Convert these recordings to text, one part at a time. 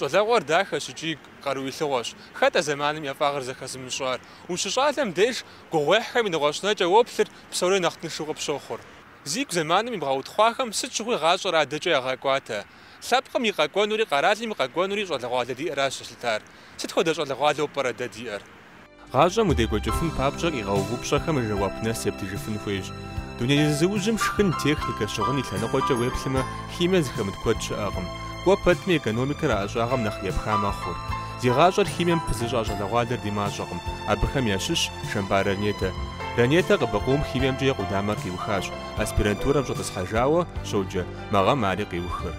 Щӏалэгъуэр дахэщ икӏи къарууилъыгъуэщ. Хэт а зэманым и ӏэфӏагъыр зэхэзымыщӏар? Ущыщӏалэм деж, гугъуехьхэми нэгъуэщӏ нэкӏэ уоплъыр, псори нэхъ тыншу къыпщохъур. Зигу зэманым имыгъэутхъуахэм сыт щыгъуи гъащӏэр адэкӏэ ягъэкӏуатэ. Лъэпкъым и къэкӏуэнури къэралым и къэкӏуэнури щӏалэгъуалэ диӏэращ зэлъытар. Сыт хуэдэ щӏалэгъуалэу пӏэрэ дэ диӏэр? Гъащӏэм удекӏуэкӏыфын папщӏэ къигъэув упщӏэхэм жэуап нэс ептыжыфын хуейщ. Дуней зызыужьым шхын, техникэ, щыгъын и лъэныкъуэкӏэ уеплъмэ, химие зыхэмыт куэд щыӏэкъым. Кӏуэ пэтми, экономикэр а ӏэщӏагъэм нэхъ епха мэхъур. Зи гъащӏэр химием пызыщӏа щӏалэгъуалэр ди мащӏэкъым. Абыхэм ящыщщ Шэмпар Ранетэ. Ранетэ къыбыкъуум химиемкӏэ и къудамэр къиухащ. Аспирантурэм щӏэтӏысхьэжауэ щоджэ, мы гъэм ари къиухыр.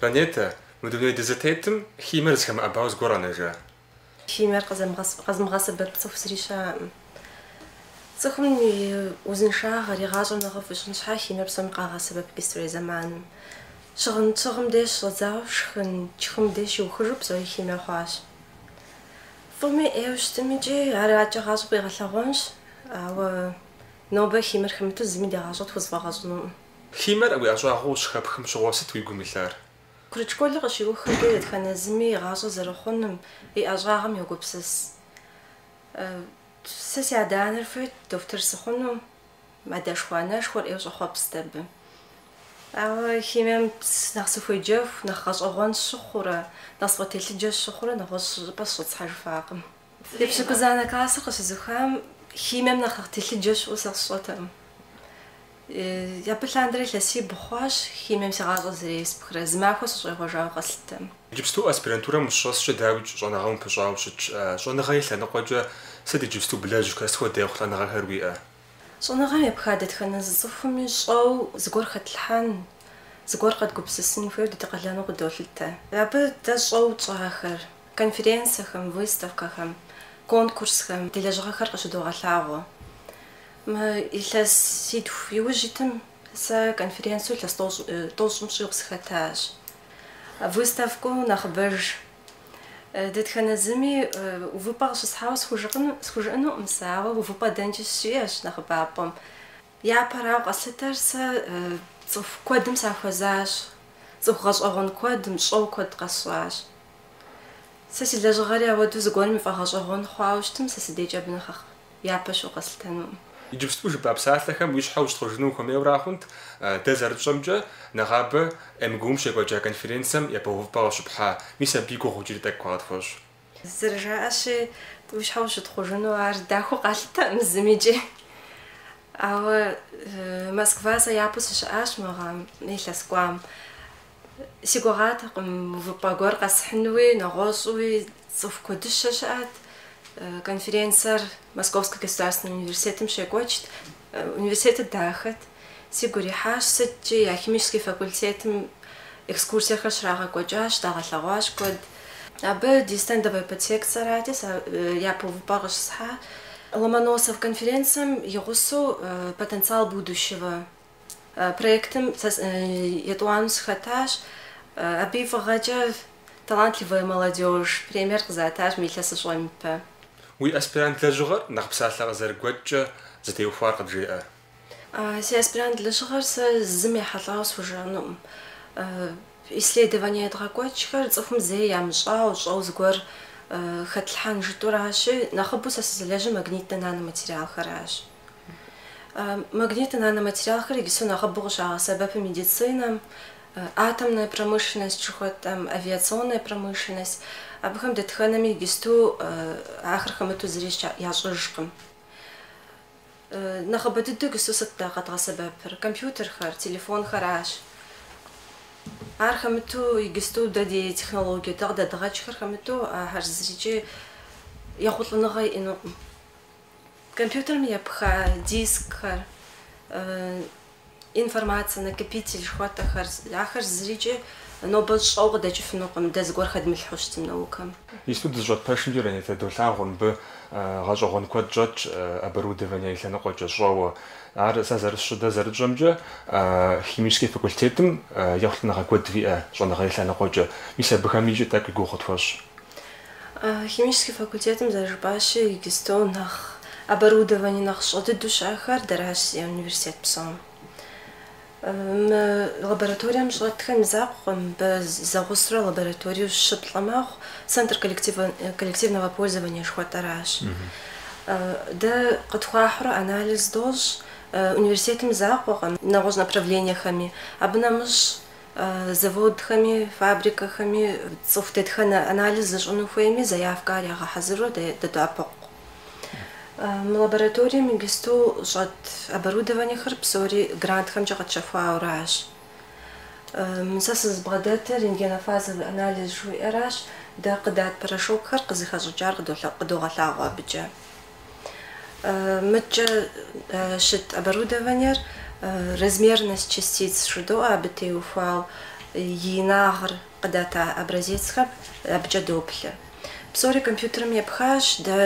Ранетэ, Мы дуней дызытетым химиер зыхэмыӏэбауэ зыгуэр къэнэжа? Химиер къэзымыгъэсэбэп цӏыху зыри щыӏэкъым. Цӏыхум и узыншагъэр, и гъащӏэр нэхъыфӏ ищӏын щхьа химиер псоми къагъэсэбэп иджыпстурей зэманым. Щыгъын тщыгъым деж щӏэдзауэ шхын тшхым деж щиухыжу псори химие хъуащ. Фӏыми ӏейуэ щытмикӏ ар адэкӏэ гъащӏэм къигъэлъэгъуэнщ, ауэ нобэ химиер хэмыту зыми ди гъащӏэр тхузэфӏэгъэкӏынукъым. Химиер уи ӏэщӏагъуэу щыхэпхым щыгъуэ сыт уи гум илъар? Курыт школыр къыщиухкӏэ дэтхэнэ зыми и гъащӏэ зэрыхъунум, и ӏэщӏагъэм йогупсыс. Сэ си адэ-анэр хуейт дохутыр сыхъуну, адэшхуэ-анэшхуэр ӏейуэ щӏэхъуэпст абы. Ауэ химием нэхъ сыхуеджэху, нэхъ гъэщӏэгъуэн сщыхъурэ, нэхъ сфӏэтелъыджэ сщыхъурэ нэгъуэщӏ щӏыпӏэ сыщӏэтӏысхьэжыфакъым. Епщыкӏузанэ классыр къыщызухам химием нэхъ телъыджэ щыӏэу сэ сщӏэтэкъым. Абы лъандэрэ илъэсибгъу хъуащ химием си гъащӏэр зэреспхрэ, зы махуэ сыщӏегъуэжауэ къэслъытэм. Иджыпсту аспирантурэм ущыщӏэскӏэ дауикӏ щӏэныгъэм упыщӏауэ щытщ. Щӏэныгъэ и лъэныкъуэкӏэ сыт иджыпсту блэжьхэр, сыт хуэдэ ехъулӏэныгъэхэр уиӏэ? Щӏэныгъэм епха дэтхэнэ зы цӏыхуми щӏэу зыгуэр хэтлъхьэн, зыгуэр къэдгупсысын хуейуэ дэ ди къалэну къыдолъытэ. Абы дэ щӏэу тщӏахэр, Конференцэхэм, выставкэхэм, конкурсхэм ди лэжьыгъэхэр къыщыдогъэлъагъуэ. Мы илъэситху иужь итым сэ конференцэу илъэс тӏощӏым щӏигъу сыхэтащ. Выставкэу нэхъыбэж дэтхэнэ зыми увыпӏэ къыщысхьауэ схужыӏэнукъым сэ, ауэ увыпӏэ дэнкӏи сщиӏэщ нэхъыбапӏэм. Япэрауэ къэслъытэр сэ цӏыху куэдым сахуэзащ, цӏыху гъэщӏэгъуэн куэдым, щӏэу куэд къэсщӏащ. Сэ си лэжьыгъэри ауэдэу зыгуэрым и фӏэгъэщӏэгъуэн хъуауэ щытым, сэ сыдейкӏэ абы нэхъ япэ щыӏэу къэслъытэнукъым. Иджыпсту жыпӏа псалъэхэм уи щхьэ ущытхъужыну ухуэмейуэра хъунт, дэ зэрытщӏэмкӏэ, нэгъабэ МГУ-м щекӏуэкӏа конференцэм япэ увыпӏэ къыщыпхьа, мис абы и гугъу иджыри тӏэкӏу къытхуэщӏ. Зэрыжаӏэщи, уи щхьэ ущытхъужыну ар дахэу къалъытэкъым зымикӏи. Ауэ Москва сэ япэу сыщыӏащ мы гъэм, илъэс кӏуам. Си гугъатэкъым увыпӏэ гуэр къэсхьынуи, нэгъуэщӏуи, цӏыху куэдыщэ щыӏэт. Конференцэр Московскэ государственнэ университетым щекӏуэкӏт. Университетыр дахэт. Сигу ирихьащ, сыткӏи я химическэ факультетым экскурсиехэр щрагъэкӏуэкӏащ, дагъэлъэгъуащ куэд. Абы ди стендовэ подсекцэрати, япэ увыпӏэр къыщысхьа. Ломоносов конференцэм и гъусэу Потенциал будущего Проектым етӏуанэу сыхэтащ. Абы и фӏыгъэкӏэ Талантливая молодежь премиер къызатащ мы илъэсыщӏэм ипэ. Уи аспирант лэжьыгъэр нэхъ псалъэ къызэрыгуэкӏкӏэ зытеухуар къыджеӏэ. Си аспирант лэжьыгъэр сэ зым ехьэлӏауэ схужыӏэнукъым. Исследование едгъэкӏуэкӏхэр цӏыхум зэи ямыщӏауэ, щӏэу зыгуэр хэтлъхьэн жытӏуращи, нэхъыбэу сэ сызылэжьыр магнитнэ наноматериалхэращ. Магнитнэ наноматериалхэр иджысту нэхъыбэу къыщагъэсэбэпы медицинэм, атомная промышленность жыхуэтӏэм, авиационная промышленность. Абыхэм дэтхэнэми иджысту ахэр хэмыту зыри ящӏыжкъым. Нэхъыбэ дыдэу иджысту сыт дэ къэдгъэсэбэпыр? Компьютерхэр, телефонхэращ. Ар хэмыту иджысту дэ ди технологие, дэ къыдэдгъэкӏхэр хэмыту ахэр зырикӏи ехъулӏэныгъэ иӏэнукъым. Компьютерым епха дискхэр, информацэ, накопитель жыхуэтӏэхэр, ахэр зырикӏи нобэ щӏэу къыдэкӏыфынукъым, дэ зыгуэр хэдмылъхьэу щытым наукэм. Иджысту дызыщӏэт пэшымкӏэ Ранетэ долъагъу мыбы гъэщӏэгъуэн куэд щӏэтщ оборудование и лъэныкъуэкӏэ щӏэуэ. Ар сэ зэрысщӏы, дэ зэрытщӏэмкӏэ химическэ факультетым ехъулӏэныгъэ куэд виӏэ щӏэныгъэ и лъэныкъуэкӏэ, мис абыхэм икӏи тӏэкӏу и гугъу къытхуэщӏ. Химическэ факультетым зэрыжыпӏащи, иджыстэу нэхъ оборудование нэхъ щӏэ дыдэу щыӏэхэр дэращ зиӏэр университет псом. Мы лабораторием щӏэтхэм закъуэкъым, мыбы зэгъусэурэ лабораториеу щы-плӏы мэхъу, центр коллективного пользования жыхуэтӏэращ. Дэ къытхуахьурэ анализ дощӏ, университетым закъуэкъым, нэгъуэщӏ направлениехэми. Абы нэмыщӏ. Заводхэми, фабрикэхэми цӏыху дэтхэнэ анализ зыщӏыну хуейми заявкэ ар ягъэхьэзыру дэдоӏэпыкъу. Мы лабораторием иджысту щӏэт оборудованиехэр псори грантхэмкӏэ къэтщэхуауращ. Сэ сызыбгъэдэтыр рентгенофазовый анализ жыхуиӏэращ, дэ къыдат порошокхэр къызыхэщӏыкӏар къыдогъэлъагъуэ абыкӏэ. Мыткӏэ щыт оборудованиер размерность частиц жыдоӏэ абы теухуау и инагъыр къыдата образецхэм абыкӏэ доплъэ. Псори компьютерым епхащ, дэ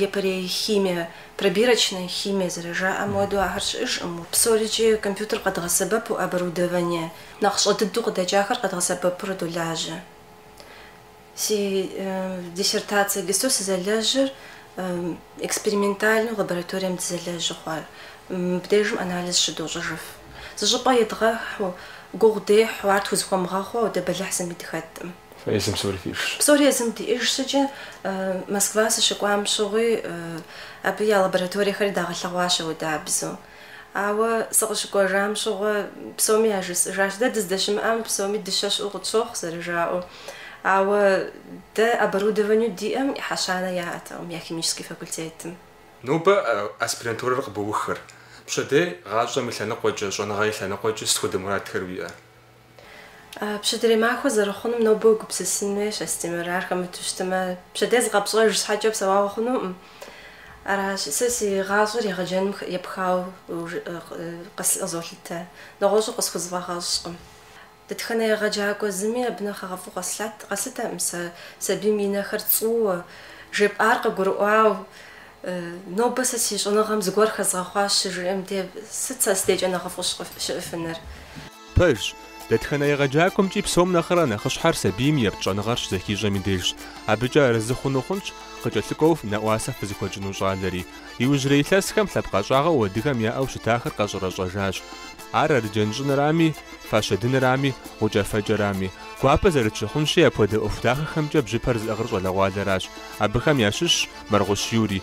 епэрей химие, пробирочная химия зэрыжаӏэм хуэдэу ахэр щыӏэжкъым, псорикӏи компьютер къэдгъэсэбэпу оборудование нэхъ щӏэ дыдэу къыдэкӏахэр къэдгъэсэбэпурэ долажьэ. Си диссертацие иджысту сызэлэжьыр экспериментальнэу лабораторием дызэлэжьу хъуар. Мыбдежым анализ щыдощӏыжыф. Зыщӏыпӏэ едгъэхьу, гугъу дехьу, ар тхузыхуэмыгъэхъуэу дэ бэлыхь зыми дыхэткъым. Езым псори фишщ. Псори езым диӏэжщ икӏи Москва сыщыкӏуам щыгъуи, абы я лабораториехэри дагъэлъэгъуащ аудабзэу. Ауэ сыкъыщыкӏуэжам щыгъуэ псоми яжысӏыжащ. Дэ дыздэщымыӏэм псоми дыщэ щыӏэу къытщохъу, зэрыжаӏэу. Ауэ дэ оборудованию диӏэм ӏыхьэ щанэ яӏэтэкъым я химический факультетым. Нобэ аспирантурэр къыбоухыр. Пщэдей гъащӏэм и лъэныкъуэкӏэ, щӏэныгъэ и лъэныкъуэкӏэ сыт хуэдэ мурадхэр уиӏэ? Пщэдейрей махуэ зэрыхъунум нобэ уегупсысын хуейщ, Астемыр. Ар хэмыту щытымэ, пщэдей зыкъэпщӏэж щхьэкӏэ псэуагъуэ хъунукъым. Аращ, сэ си гъащӏэр егъэджэным епхауэ къызолъытэ, нэгъуэщӏу къысхузэфӏэгъэщӏкъым. Дэтхэнэ егъэджакӏуэ зыми абы нэхъ хэгъэфӏу къэслъытэкъым сэ, сабийм и нэхэр цӏууэ, жепӏар къыгурыӏуау. Нобэ сэ си щӏэныгъэм зыгуэр хэзгъэхъуащ щыжиӏэм де, сыт сэ си дейкӏэ нэхъыфӏу щыӏыфыныр? Пэжщ, дэтхэнэ егъэджакӏуэмкӏи псом нэхърэ нэхъыщхьэр сабийм епт щӏэныгъэр щызэхищӏэм и дежщ. Абыкӏэ арэзы хъуну хъунщ къыкӏэлъыкӏуэу нэӏуасэ фызыхуэтщӏыну щӏалэри. Иужьрей илъэсхэм лъэпкъ ӏэщӏагъэу адыгэм яӏэу щытахэр къэщӏэрэщӏэжащ. Ар арджэн щӏынырами, фащэ дынырами, гъукӏэфэкӏэрами. Гуапэ зэрытщыхъунщи, апхуэдэ ӏуэху дахэхэмкӏэ бжьыпэр зыӏыгъыр щӏалэгъуалэращ. Абыхэм ящыщщ Мэргъущ Юрий.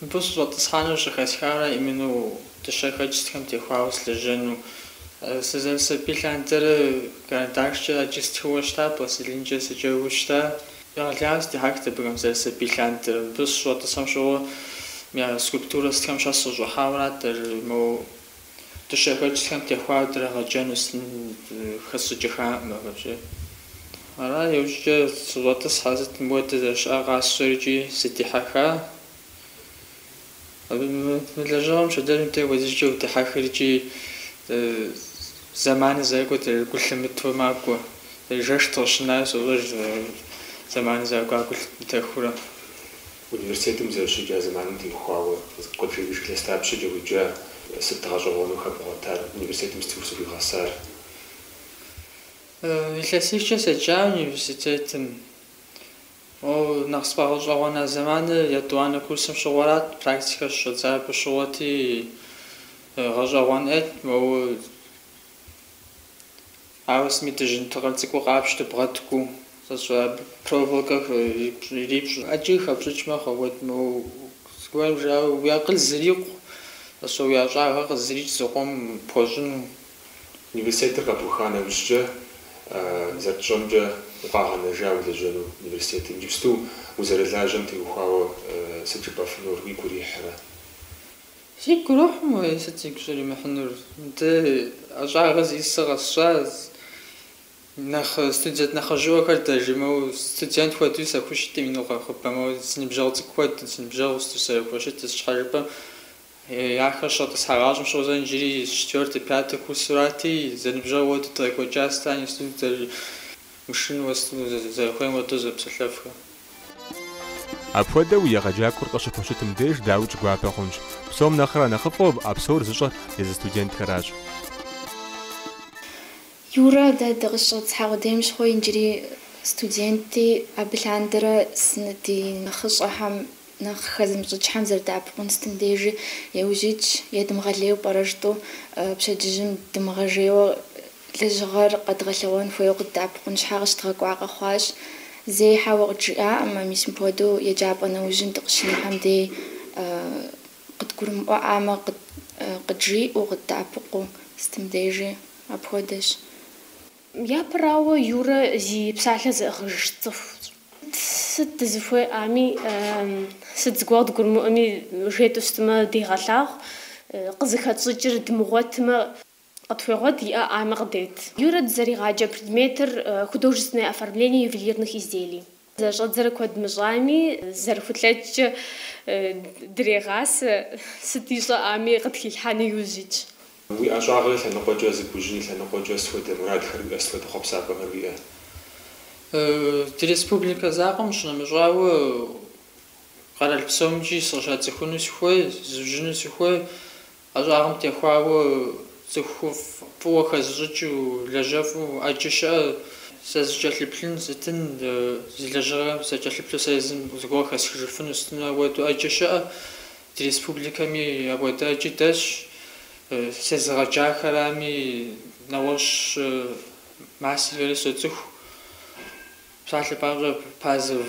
Мыбы сыщӏэтӏысхьэну щӏыхэсхарэ именно дыщэхэкӏ сытхэм теухуауэ сылэжьэну. Сызэрысабий лъандэрэ карандашкӏэ ӏэджи стхыуэ щыта, пластилинкӏэ сыджэгуу щыта. Егъэлеяуэ сыдихьэхт абыхэм зэрысабий лъандэрэ. Мыбы сыщыщӏэтӏысхьэм щыгъуэ я скульптурэ сытхэм щхьэ сыщӏыхьауэрат ар, моу. дыщэхэкӏхэм теухуар драгъэджэну хэсщӏыкӏыхакъым абыкӏэ. Ара иужькӏэ сыщӏэтӏысхьэ, сытым хуэдэ зэрыщыӏэ къасщӏэри икӏи сыдихьэха? Мы лэжьыгъэм щоджэным де хуэдизкӏэ удихьэхыр икӏи зэманыр зэрыкӏуэ гу лъымыту макӏуэ. Жэщ дыкъыщынауэ сощӏэж зэманыр зэрыкӏуа гу лъымытэхурэ. Университетым зэрыщеджа зэманым теухуауэ къыджеӏэж илъэс дапщэкӏэ уеджа, сыт гъэщӏэгъуэну хэбгъуэтар, университетым сыт узыхуигъэсар? Илъэсихкӏэ седжа университетым. Нэхъ сфӏэгъэщӏэгъуэна зэманыр етӏуанэ курсым щыгъуэрат, практикэ щыщӏэддзар абы щыгъуэти, гъэщӏэгъуэн ӏейт, моуэ Ауэ сыми дыжьын тыкъыр цӏыкӏу къапщтэ, бгъэткӏуу, сэ сщӏэ абы проволокэ ирипщӏ, ӏэджи хэпщӏыкӏ мэхъу, вот моуэ зыгуэрым, жауэ уи акъыл зырикъу, сэ сщӏэ уи ӏэщӏагъэр къызэрикӏ зыкъом пхуэщӏыну. Университетыр къэбуха нэужькӏэ, зэрытщӏэмкӏэ, укъагъэнэжа улэжьэну университетым? Иджыпсту узэрылажьэм теухуауэ сыт жыпӏэфынур уигу ирихьрэ? Сигу ирохьым уэи сыт сигу щӏримыхьынур, ди ӏэщӏагъэ зи сэ къэсщӏащ, нэхъ студент нэхъыжьыӏуэхэр деж моуэ, студент хуэдэуи сахущытым, ину нэхъыбэм, си ныбжьэгъу цӏыкӏу хуэдэу, си ныбжьэгъу сызэрахущытыр щхьэ жыпӏэм, ахэр щӏэтӏысхьэгъащӏэм щыгъуэ сэ иджыри четвертый, пятый курсырати, зэныбжьэгъу хуэдэу дыкъекӏуэкӏащ, итӏани студентхэр, мышынэу, зэрыхуейм хуэдэу зэпсэлъэфхэ. Апхуэдэу уи егъэджакӏуэр къыщыпхущытым деж дауикӏ гуапэ хъунщ. Псом нэхърэ нэхъыфӏу а псор зыщӏэр езы студентхэращ. Юрэ, дэ дыкъыщӏэтӏысхьа къудейм щыгъуи иджыри студентти, абы лъандэрэ си, ди нэхъыщӏэхэм нэхъ хэзымыщӏыкӏхэм зэрыдэӏэпыкъун сытым дежи, иужь итщ, едымыгъэлейуэ пӏэрэ жытӏэу пщэдджыжьым дымыгъэжейуэ Лэжьыгъэр къэдгъэлъэгъуэн хуейуэ къыддэӏэпыкъун щхьэ къыщыдгъэкӏуа къэхъуащ. Зэи хьэуэ къыджиӏаӏым, мис мыпхуэдэу еджапӏэ нэужьым дыкъыщынэхэм дей къыдгурымыӏуэӏамэ, къыджиӏэу, къыддэӏэпыкъуу сытым дежи апхуэдэщ. Япэрауэ, Юрэ зи псалъэ зыӏыгъыж цӏыхущ. Сыт дызыхуеӏами, сыт зыгуэр къыдгурымыӏуэми жетӏэу щытмэ, дегъэлъагъу, къызыхэтщӏыкӏыр дымыгъуэтмэ. Къытхуегъуэт иӏэӏамэ къыдет. Юрэ дызэригъаджэ предметыр Художественное оформление ювелирных изделий. Зэрыщӏэддзэрэ куэд мыщӏами, зэрыхулъэкӏкӏэ дырегъасэ, сыт ищӏэӏами къытхилъхьэну иужь итщ. Уи ӏэщӏагъэ и лъэныкъуэкӏэ зыбужьын и лъэныкъуэкӏэ сыт хуэдэ мурадхэр уиӏэ, сыт хуэдэ хъуэпсапӏэхэр уиӏэ? Ди республикэ закъуэм щынэмыщӏауэ, къэрал псомкӏи сыкъыщацӏыхуну сыхуей, зызужьыну сыхуей ӏэщӏагъэм техуауэ цӏыху фӏыуэ хэзыщӏыкӏыу, лэжьэфӏу ӏэджэ щыӏэ, сэ зыкӏэлъыплъын сытын, зи лэжьыгъэм сыкӏэлъыплъу сэ езым зыгуэр хэсхыжыфыну сытыну апхуэдэу ӏэджэ щыӏэ. Ди республикэми апхуэдэ ӏэджи дэсщ. Сезыгъэджахэрами, нэгъуэщӏ мастерхэри соцӏыху. Псалъэ папщӏэ, Пазов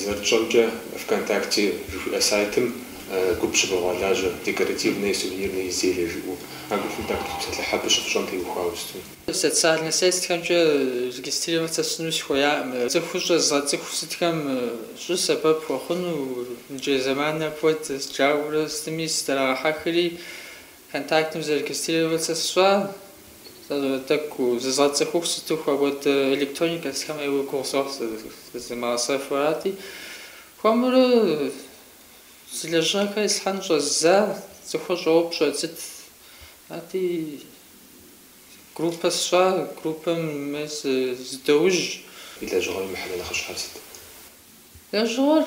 Зэрытщӏэмкӏэ, ВКонтакте жыхуиӏэ сайтым гуп щыбогъуэлажьэ, Декоративные и сувенирные изделия жыӏэу. А гупым тӏэкӏу тепсэлъыхь абы щыфщӏэм теухуауэ сыту. Социальнэ сетхэмкӏэ регистрироваться сщӏыну сыхуеяӏым. Цӏыхущӏэ згъэцӏыху сытхэм щӏы сэбэп пхуэхъуну, иджы зэманыр апхуэдэщ, жаӏэурэ сытми сыдрагъэхьэхри, Контактым зарегистрироваться сщӏа, тӏэкӏу зызгъэцӏыхуху сыту апхуэдэ электроникэ сытхэм ейуэ гугъу сохь, зезмыгъэсэфу арати. Хуэмурэ си лэжьыгъэхэр ислъхьэн щӏэздза, цӏыхур щӏоупщӏэ сыт ати, группэ сщӏа, группэм мы зыдоужь. И лэжьыгъэм и мыхьэнэ нэхъыщхьэр сыт? Лэжьыгъэр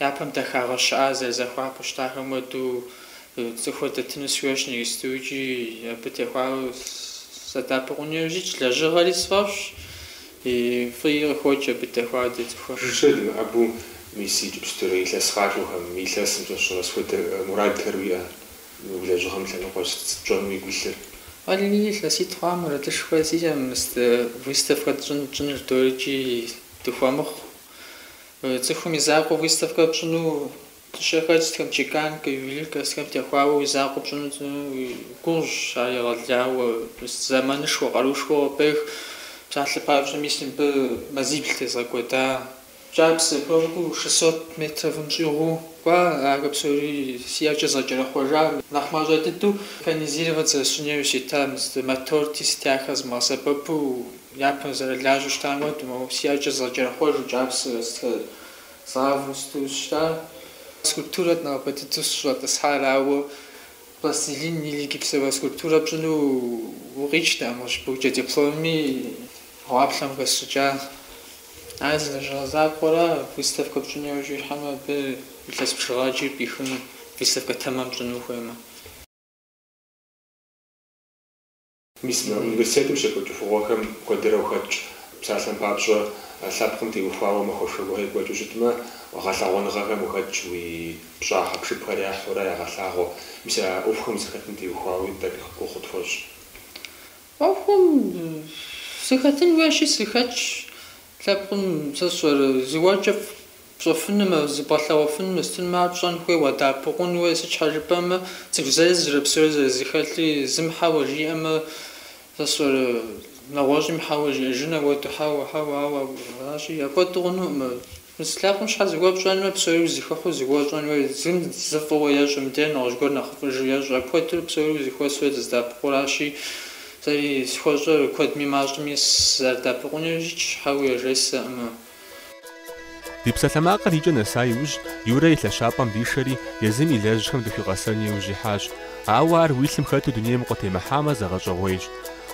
Япэм дахагъэ щыӏа зэрызыхуапэу щытахэм хуэдэу цӏыхур дэтыну сыхуейщ иджыпсту икӏи абы техуауэ садэӏэпыкъуну яужь ситщ. Лэжьыгъэри сфӏэфӏщ, и фӏыи къыхокӏ абы техуауэ ди цӏыхур. Жыжьэ дымыӏэбу мис иджыпстурэ илъэс къакӏуэхэм, мы илъэсым щӏэщыгъуэ сыт хуэдэ мурадхэр уиӏэ? Мы уи лэжьыгъэм лъэныкъуэ сыт пщӏэну уигу илъыр? Алли, илъэситӏ хъуа мурадышхуэ сиӏэм, выставкэ тщӏын тщӏыныр дорикӏи дыхуэмыхъу. Цӏыхум и закъуэ выставкэ пщӏыну дыщэхэр сытхэм, чеканкэ, ювелиркэ сытхэм техуауэ уи закъуэ пщӏыну гугъущ, ар егъэлеяуэ, зэманышхуэ, къарушхуэ къыпӏех, псалъэ папщӏэ мис мыбы мазибл тезгъэкӏуэда, кӏапсэ пэжу шестьсот метровым щӏигъуу кӏуа, ахэр псори си ӏэкӏэ згъэкӏэрэхъуэжа, нэхъ мащӏэ дыдэу механизировать зэрысщӏын яужь сита, мотор сытхэр сымыгъэсэбэпу Япэм зэрылажьэу щытам хуэдэу, моуэ си ӏэкӏэ згъэкӏэрэхъуэжу кӏапсэр згъавэу сыту щыта. Скульптурэт нэхъыбэ дыдэу сыщӏэтӏысхьар, ауэ пластилин или гипсовэ скульптурэ пщӏыну къикӏтэкъым, къыщыбухкӏэ дипломми гъуаплъэм хэсщӏыкӏа. Ар зы лэжьыгъэ закъуэра, выставкэ пщӏыну яужь уихьэмэ, абы илъэс бжыгъэ ӏэджи пӏихыну, выставкэ тэмэм пщӏыну ухуеймэ. Мис мы университетым щекӏуэкӏ ӏуэхугъуэхэм куэдрэ ухэтщ. Псалъэм папщӏэ, лъэпкъым теухуауэ махуэшхуэ гуэр екӏуэкӏыу щытмэ, гъэлъэгъуэныгъэхэм ухэтщ, уи пщӏа хьэпшыпхэр яхьурэ ягъэлъагъуэ. Мис а ӏуэхухэм узыхэтым теухуауи тӏэкӏу гугъу къытхуэщӏ. ӏуэхум сыхэтын хуейщи, сыхэтщ. Лъэпкъым сэ сщӏэрэ, зыгуэркӏэ Пщӏэфынумэ, зыбгъэлъэгъуэфыну щытынумэ, ар пщӏэн хуей уадэӏэпыкъун хуей, сыт щхьэ жыпӏэмэ, цӏыху зэзрэ, псори зэрызыхэлъри, зым хьэуэ жиӏэмэ, сэ сщӏэрэ, нэгъуэщӏым хьэуэ жиӏэжын апхуэдэу, хьэуэ, хьэуэ, ауэ аращи, апхуэдэу хъунукъым. Мис лъэпкъым щхьэ зыгуэр пщӏэнумэ, псори узэхыхьэу зыгуэр щӏэн хуей, зым зы фӏыуэ ещӏэ, мыдрейм нэгъуэщӏ гуэр нэхъыфӏыжу ещӏэ, апхуэдэу псори узэхуэсу узэдэӏэпыкъуу аращи, сэри схуэщӏэр, куэдми мащӏэми сызэрыдэӏэпыкъунущи, хьэуэ яжесӏэкъым. Ди псалъэмакъыр икӏэ нэса иужь, Юрэ и лъэщапӏэм дишэри, езым и лэжьыгъэм дыхуигъэсэн иужь ихьащ. Ауэ ар уи лъым хэту дунейм укъытемыхьамэ, зэгъэщӏэгъуейщ.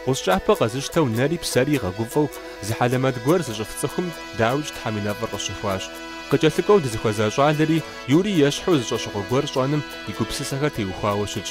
Гъущӏ кӏапэ къэзыщтэу нэри псэри игъэгуфӏэу, зы хьэлэмэт гуэр зыщӏыф цӏыхум дауикӏ Тхьэм и нэфӏыр къыщыхуащ. Къыкӏэлъыкӏуэу дызыхуэза щӏалэри Юрий ещхьу зы щӏэщыгъуэ гуэр щӏэным и гупсысэхэр теухуауэ щытщ.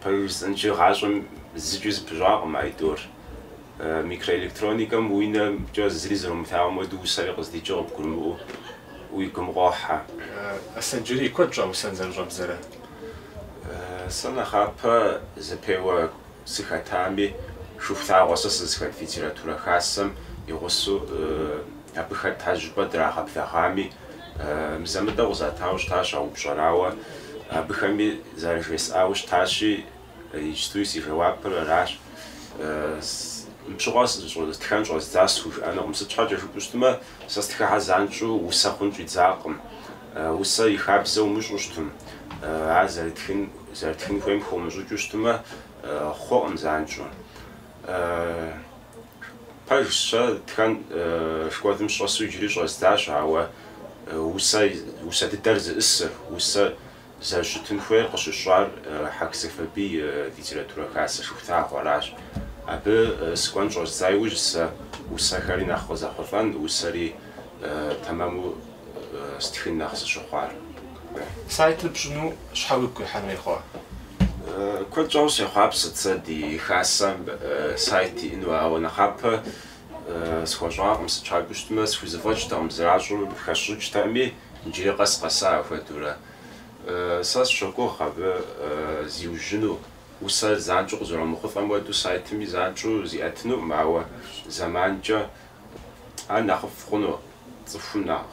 Пэжыр жысӏэнщи, гъащӏэм зыкӏи зэпыщӏакъым а тӏур. Микроэлектроникэм уи нэмкӏэ зыри зэрумылъагъум хуэдэу усэри къыздикӏыр къыбгурымыӏуэу уи гум къохьэ. Аслъэнджэрий, куэд щӏа усэн зэрыщӏэбдзэрэ? Сэ нэхъапэ зэпеуэ сыхэтами, Шыхулъагъуэ сэ сызыхэт литературэ хасэм и гъусэу абы хэта щӏыпӏэ драгъэблэгъами, Мызэ-мытӏэу къызатауэ щытащ а упщӏэр, ауэ абыхэми зэрыжесӏауэ щытащи, иджыпстуи си жэуапыр аращ. Мыбы щыгъуэ тхэн щӏэздзащ схужыӏэнукъым. Сыт щхьэкӏэ жыпӏэу щытмэ, сэ стхыхэр занщӏэу усэ хъун щӏидзакъым. Усэ и хабзэ умыщӏэу щытмэ, ар зэрытхын, зэрытхын хуейм хыумыщӏыкӏыу щытмэ, хъуэкъым занщӏэу. Пэжщ, сэ тхэн школым сыщӏэсу иджыри щӏэздзащ, ауэ усэ усэ дыдэр зиӏысыр, усэ зэрыщытын хуейр къыщысщӏар Хьэх Сэфарбий литературэ хасэ Шыхулъагъуэ аращ. Абы сыкӏуэн щӏэздза иужь сэ усэхэри нэхъ къызэхъулӏэн, усэри тэмэму Стхын нэхъ сыщыхъуар. Сайтыр пщӏыну щхьэ уигу къихьэн хуей хъуа? Куэд щӏауэ сехъуапсэт сэ ди хасэм сайт иӏэну, ауэ нэхъапэ схуэщӏакъым. Сыт щхьэкӏэ жыпӏэу щытмэ, схузэфӏэкӏтэкъым, зэращӏым хэсщӏыкӏтэкъыми, иджыри къэс къэса апхуэдэурэ. Сэ сщогугъ абы зиужьыну, усэр занщӏэу къызэромыхъулӏэм хуэдэу сайтми занщӏэу зиӏэтынукъым, ауэ зэманкӏэ Ар нэхъыфӏ хъуну цӏыхум нэхъ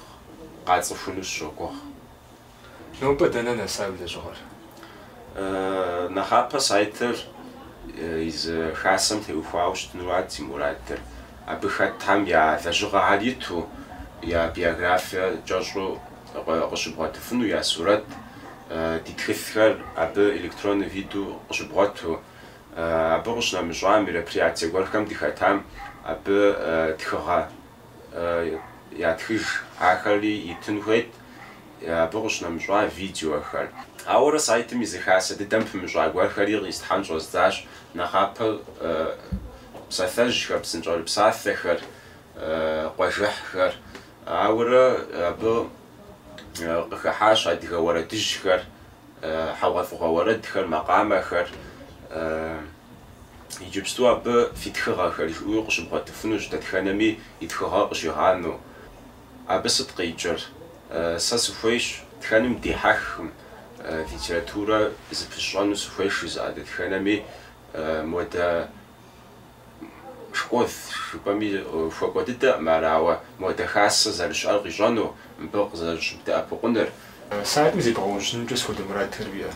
къацӏыхуну сыщогугъ. Нобэ дэнэ нэса уи лэжьыгъэр? Нэхъапэ сайтыр езы хасэм теухуауэ щытыну арат си мурадыр. Абы хэтхэм я лэжьыгъэхэр иту, я биографие кӏэщӏу къыщыбгъуэтыфыну, я сурэт, ди тхылъхэр абы электроннэ виду къыщыбгъуэту. Абы къыщынэмыщӏа мероприятие гуэрхэм дыхэтам абы тхыгъэ ятхыж, ахэри итын хуейт абы къыщынэмыщӏа видеохэр. Ауэрэ сайтым езы хасэ дыдэм пымыщӏа гуэрхэри къистхьэн щӏэздзащ нэхъапэ псалъэжьхэр, псынщӏэрыпсалъэхэр, къуажэхьхэр. Ауэрэ абы къыхыхьащ адыгэ уэрэдыжьхэр, хьэгъуэлӏыгъуэ уэрэдхэр, макъамэхэр, иджыпсту абы фи тхыгъэхэр жиӏэуи къыщыбгъуэтыфынущ, дэтхэнэми и тхыгъэр къыщигъанэу. Абы сыт къикӏыр? Сэ сыхуейщ тхэным дихьэхым литературэ зыпысщӏэну сыхуейщ жызыӏэ дэтхэнэми модэ Школ жыпӏэми хуэкӏуэ дыдэкъым ар, ауэ модэ хасэ зэрыщыӏэр къищӏэну, мыбы къызэрыщыбдэӏэпыкъуныр. Сайтым зебгъэужьынымкӏэ схуэдэ мурадхэр уиӏэ?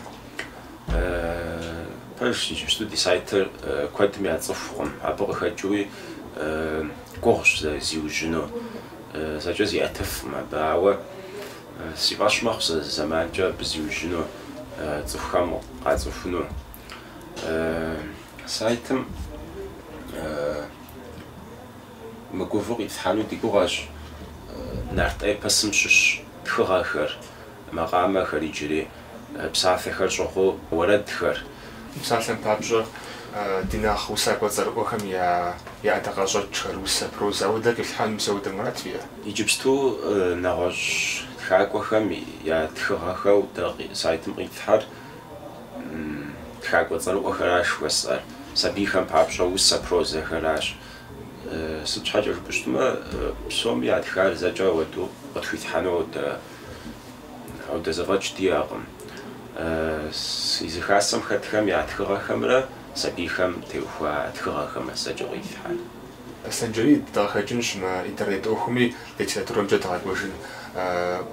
Пэжщ, иджыпсту ди сайтыр куэдым яцӏыхукъым, абы къыхэкӏыуи гугъущ зэрызиужьыну, зэкӏэ зиӏэтыфкъым абы, ауэ си фӏэщ мэхъу сэ зы зэманкӏэ абы зиужьыну, цӏыхухэм къацӏыхуну. Сайтым мыгувэу къитлъхьэну ди гугъэщ нарт эпосым щыщ тхыгъэхэр, макъамэхэр иджыри псалъэхэр щӏыгъуу уэрэдхэр. Псалъэм папщӏэ, ди нэхъ усакӏуэ цӏэрыӏуэхэм я ӏэдакъэщӏэкӏхэр, усэ, прозэ, ауэдэ къилъхьэнымкӏэ ауэдэ мурад фиӏэ? Иджыпсту нэгъуэщӏ тхакӏуэхэм я тхыгъэхэу дэ сайтым къитлъхьэр Тхакӏуэ цӏэрыӏуэхэращ жыхуэсӏэр. Сабийхэм папщӏэ усэ прозэхэращ. Сыт щхьэкӏэ жыпӏэу щытмэ, псоми ятхар зэкӏэ ауэдэу къытхуитхьэну ауэдэ зэфӏэкӏ диӏэкъым. Езы хасэм хэтхэм я тхыгъэхэмрэ сабийхэм теухуа тхыгъэхэмрэ зэкӏэ къитлъхьэр. Санджэрий, дыгъэхэкӏынщ мы интернет ӏуэхуми литературэмкӏэ дыгъэкӏуэжын.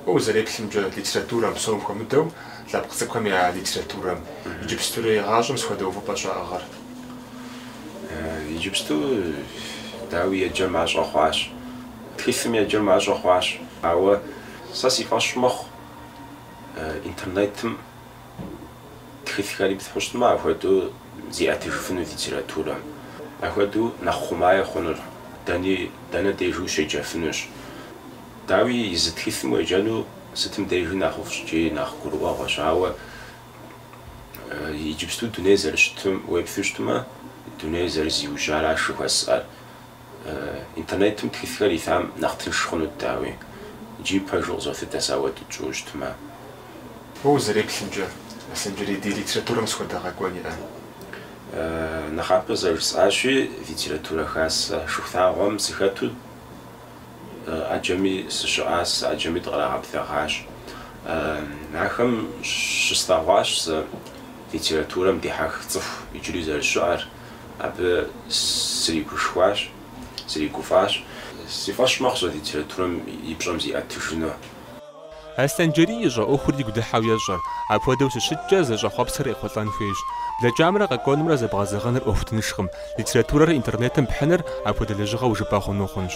Уэ узэреплъымкӏэ, литературэм, псом хуэмыдэу, лъэпкъ цӏыкӏухэм я литературэм, иджыпстурей гъащӏэм сыхуэдэ увыпӏэ щаӏыгъыр? Иджыпсту, дауи, еджэ мащӏэ хъуащ. Тхылъым еджэ мащӏэ хъуащ. Ауэ сэ си фӏэщ мэхъу интернетым. Тхылъхэр иплъхьэу щытмэ, ахуэдэу зиӏэтыжыфыну литературэм. Ахуэдэу нэхъ хъумаи хъунур дэни дэнэ дежи ущеджэфынущ. Дауи, езы тхылъым уеджэну сытым дежи нэхъыфӏщ икӏи нэхъ гурыӏуэгъуэщ. Ауэ иджыпсту дунейр зэрыщытым уеплъу щытмэ, дунейр зэрызиужьаращ жыхуэсӏэр. Интернетым тхылъхэр илъам нэхъ тынш хъунут, дауи, икӏи пэжу къызолъытэ сэ ахуэдэу тщӏыуэ щытмэ. Уэ узэреплъымкӏэ, Аслъэнджэрей, ди литературэм сыт хуэдэ къэкӏуэн иӏэ? Нэхъапэ зэрыжысӏащи, литературэ хасэ Шыхулъагъуэм сыхэту ӏэджэми сыщыӏащ, ӏэджэми дыкърагъэблэгъащ. Ахэм щыслъэгъуащ сэ литературэм дихьэх цӏыху иджыри зэрыщыӏэр, Абы сригушхуащ, сригуфӏащ. Си фӏэщ мэхъу сэ литературэм и пщӏэм зиӏэтыжыну. Аслъэнджэрий ищӏэ ӏуэхур игу дыхьэу ещӏэ. Апхуэдэу щыщыткӏэ, зыщӏэхъуэпсыр къехъулӏэн хуейщ. Блэкӏамрэ къэкӏуэнымрэ зэбгъэзэгъыныр ӏуэху тыншкъым. Литературэр интернетым пхьыныр апхуэдэ лэжьыгъэу жыпӏэ хъуну хъунщ.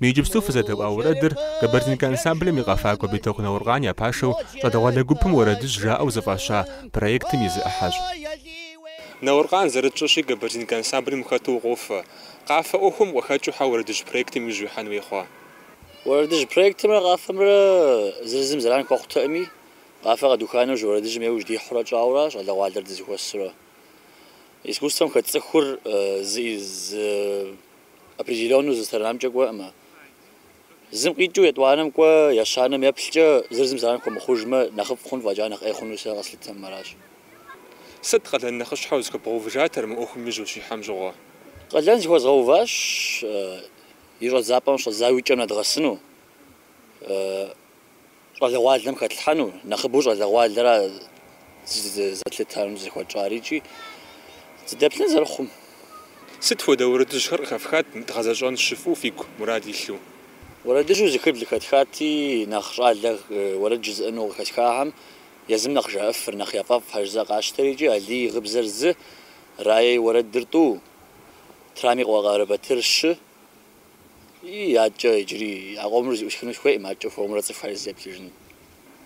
Мы иджыпсту фызэдэӏуа уэрэдыр Кабардинка ансамблым и къэфакӏуэ Битокъу Науркъан я пашэу щӏалэгъуалэ гупым Уэрэдыжь жаӏэу зэфӏаща проектым и зы ӏыхьэщ. Науркъан зэрытщӏэщи Кабардинка ансамблым ухэту укъофэ. Къафэ ӏуэхум укъыхэкӏыу хьэ Уэрэдыжь проектым иужь уихьэн хуей хъуа? Уэрэдыжь проектымрэ къафэмрэ зыр зым зэран хуэхъутэкъыми, къафэ къэдуха нэужь уэрэдыжьым еужь дихьурэ кӏуауэ аращ щӏалэгъуалэр дызэхуэсурэ. Искусствэм хэт цӏыхур зэи зы определеннэу зы сторонамкӏэ кӏуэӏым. Зым къикӏыу етӏуанэм кӏуэ, ещанэм еплъкӏэ, зыр зым зэран хуэмыхъужмэ, нэхъыфӏ хъун фӏэкӏа нэхъ ӏей хъуну сэ къэслъытэӏым, аращ. Сыт къалэн нэхъыщхьэу зыхуэбгъэувыжатэр мы ӏуэхум иужь ущихьэм щыгъуэ? Къалэн зыхуэзгъэуващ и щӏэдзапӏэм щӏэддзауэ и кӏэм нэдгъэсыну. Щӏалэгъуалэм хэтлъхьэну, нэхъыбэу щӏалэгъуалэра зызэтлъытам зыхуэтщӏар икӏи зыдэплъын зэрыхъум. Сыт хуэдэ уэрэдыжьхэр къыхэфхат мы дгъэзэщӏэн жыфӏэу фигу мурад илъу? Уэрэдыжьу зы хыбл къыхэтхати, нэхъ щӏалэ уэрэд жызыӏэну къыхэсхахэм езым нэхъ жаӏэфыр, нэхъ яфӏэфӏ хьэжза къащтэр икӏи Алий и гъыбзэр зы, Рае и уэрэдыр тӏу, Трамэ и къуэ Къарэбатыр щы, Ии, адэкӏэ иджыри а къомыр зэӏусхыну сыхуеӏым, адэкӏэ хуэмурэ цӏыхухэр зызеплъыжын.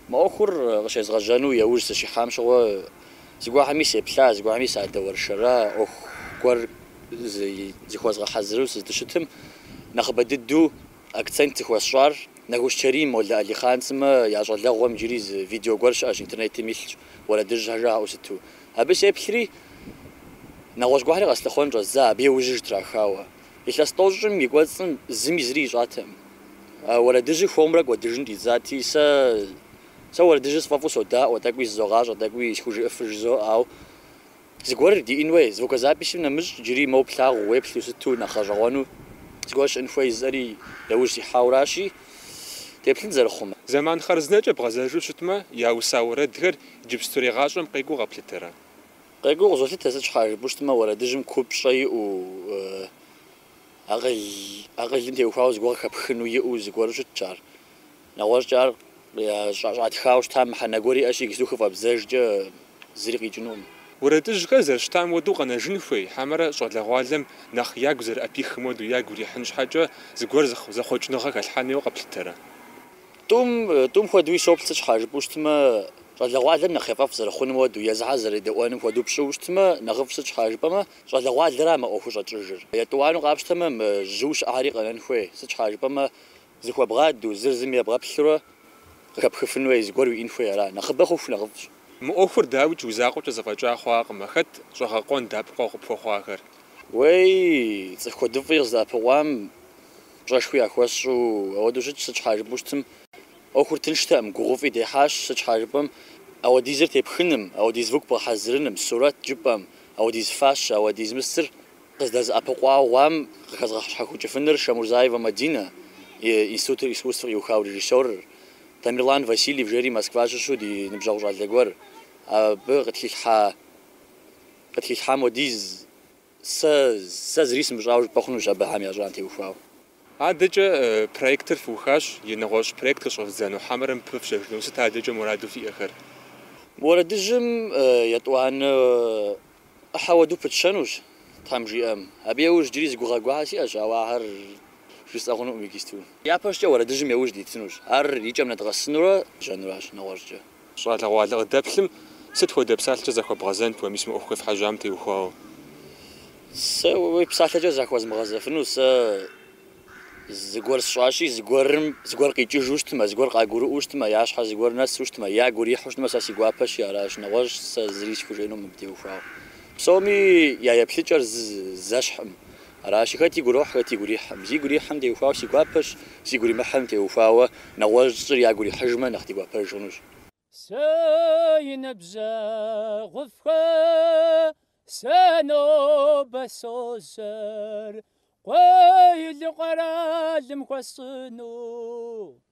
Мы ӏуэхур къыщезгъэжьэну яужь сыщихьам щыгъуэ, зыгуэрхэми сеплъа, зыгуэрхэми садэуэршэра, ӏуэху гуэр зыхуэзгъэхьэзыру сыздыщытым, нэхъыбэ дыдэу акцент зыхуэсщӏар Нэхущ Чэрим, Молэ Алихъан сымэ я щӏалэгъуэм иджыри зы видео гуэр щыӏэщ, интернетым илъщ, уэрэдыжьхэр жаӏэу щыту. Абы сеплъри, нэгъуэщӏ гуэрхэри къэслъыхъуэн щӏэздза, абы еужь щытрахауэ. Илъэс тӏощӏым и кӏуэцӏым зыми зыри ищӏатэкъым. Уэрэдыжьыр хуэмурэ кӏуэдыжын щӏидзати, сэ, сэ уэрэдыжьыр сфӏэфӏу содаӏуэ, тӏэкӏуи зызогъащӏэ, тӏэкӏуи схужыӏыфыр жызоӏэ, ау зыгуэри диӏэн хуей, звукозаписым нэмыщӏ джыри моуэ плъагъуу, уеплъу сыту нэхъ гъэщӏэгъуэну зыгуэр щыӏын хуей жысӏэри яужь сихьауэращи, деплъынщ зэрыхъумэ. Зэман хъарзынэкӏэ бгъэзэжу щытмэ, яуса уэрэдхэр иджыпстурей гъащӏэм къекӏуу къэплъытэрэ? Къекӏуу къызолъытэ сыт щхьа жыпӏущтмэ уэрэдыжьым купщӏэ иӏэу, акъыл, акъылым теухуауэ зыгуэр къыхэпхыну иӏэу зыгуэру щытщ ар. Нэгъуэщӏкӏэ ар щӏатхауэ щытам мыхьэнэ гуэр иӏэщи иджысту хыфӏэбдзэжкӏэ зыри къикӏынукъым. Уэрэдыжьхэр зэрыщытам уэду къэнэжын хуей, хьэмэрэ щӏалэгъуалэм нэхъ ягу зэрыӏэпихым уэду ягу ирихьын щхьэкӏэ зыгуэр зэхъуэкӏыныгъэ хэлъхьэн хуейуэ къэплъытэрэ? Тӏум, тӏум хуэдэуи соплъ, сыт щхьэ, жыпӏэу щытмэ, щӏалэгъуалэм нэхъ ефӏэфӏ зэрыхъунум хуэдэу, езыхьэр зэредэӏуэнум хуэдэу пщӏыуэ щытмэ, нэхъыфӏщ, сыт щхьэ жыпӏэмэ, щӏалэгъуалэра мы ӏуэхур щӏэкӏыжыр. Етӏуанэу къапщтэмэ, мы жьыу щыӏари къэнэн хуей, сыт щхьэ жыпӏэмэ, зыхуэбгъадэу, зыр зым ебгъэплъурэ къыхэпхыфын хуей, зыгуэр уиӏын хуей ара, нэхъыбэ хъуху нэхъыфӏщ. Мы ӏуэхур, дауикӏ, уи закъуэкӏэ зэфӏэкӏа хъуакъым, а хэт щӏэгъэкъуэн дэӏэпыкъуэгъуу къыпхуэхъуахэр? Уей, цӏыху куэдыфӏи къыздэӏэпыкъуам пщӏэшхуи яхуэсщӏу, ауэдэу щытщ, сыт щхьа жыпӏэу щытым, ӏуэхур тынштэкъым, гугъуфӏи дехьащ, сыт щхьа жыпӏэм, ауэдизыр тепхыным, ауэдиз звук бгъэхьэзырыным, сурэт жыпӏэм, ауэдиз фащэ, ауэдиз мыстыр къыздэзыӏэпыкъуауэ хъуам къыхэзгъэщхьэхукӏыфыныр Шамурзаева Мадина институтыр искусств къиухау режиссёрыр, Тамерлан Васильев жери Москва щыщу ди ныбжьэгъу щӏалэ гуэр, абы къытхилъхьа къытхилъхьам хуэдиз. Сэ, сэ зыри сымыщӏауэ жыпӏэ хъунущ Абыхьэм ящӏам теухуауэ. Адэкӏэ проектыр фыухащ, и нэгъуэщӏ проект къыщӏэвдзэну хьэмэрэ мыбы пыфщэжыну сыт адэкӏэ мураду фиӏэхэр? Уэрэдыжьым етӏуанэ ӏыхьэ уэду пытщэнущ, Тхьэм жиӏэм. Абы яужь иджыри зы гугъэ гуахьэ сиӏэщ, ауэ ахэр жысӏэ хъунукъым иджысту. Япэщӏыкӏэ уэрэдыжьым яужь дитынущ. Ар и кӏэм нэдгъэсынурэ ежьэнуращ нэгъуэщӏкӏэ. Щӏалэгъуалэ къыдэплъым сыт хуэдэ псалъэкӏэ захуэбгъэзэнт уэ мис мы ӏуэху къефхьэжьам теухуауэ? Сэ уи псалъэкӏэ захуэзмыгъэзэфыну сэ зыгуэр сщӏащи, зыгуэрым, зыгуэр къикӏыжу щытмэ, зыгуэр къагурыӏуэу щытмэ, я щхьэр зыгуэр нэсу щытмэ, ягу ирихьу щытмэ, сэ си гуапэщи аращ, нэгъуэщӏ сэ зыри схужыӏэнукъым мыбы теухуауэ. Псоми я еплъыкӏэр зэщхькъым, Аращи, хэт игу ирохь, хэт игу ирихьым. Зигу ирихьым теухуауэ си гуапэщ, зигу иримыхьым теухуауэ нэгъуэщӏыр ягу ирихьыжмэ, нэхъ дигуапэж хъунущ. Си ныбжьэгъуфӏхэ сэ нобэ сожьэр, къулыкъу къэралым хуэсщӏэну.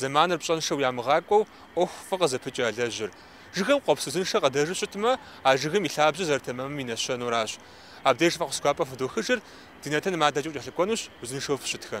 Зэманыр пщӏэншэу ямыгъакӏуэу ӏуэху фӏы къызыпыкӏ ялэжьыр. Жыгым къуэпс узыншэ къыдэжу щытмэ, а жыгым и лъабжьэр зэрытэмэмым и нэщэнэращ. Абдеж фӏэхъус гуапэ фыдохыжыр, ди нэтыным адэкӏэу кӏэлъыкӏуэнущ, узыншэу фыщытхэ.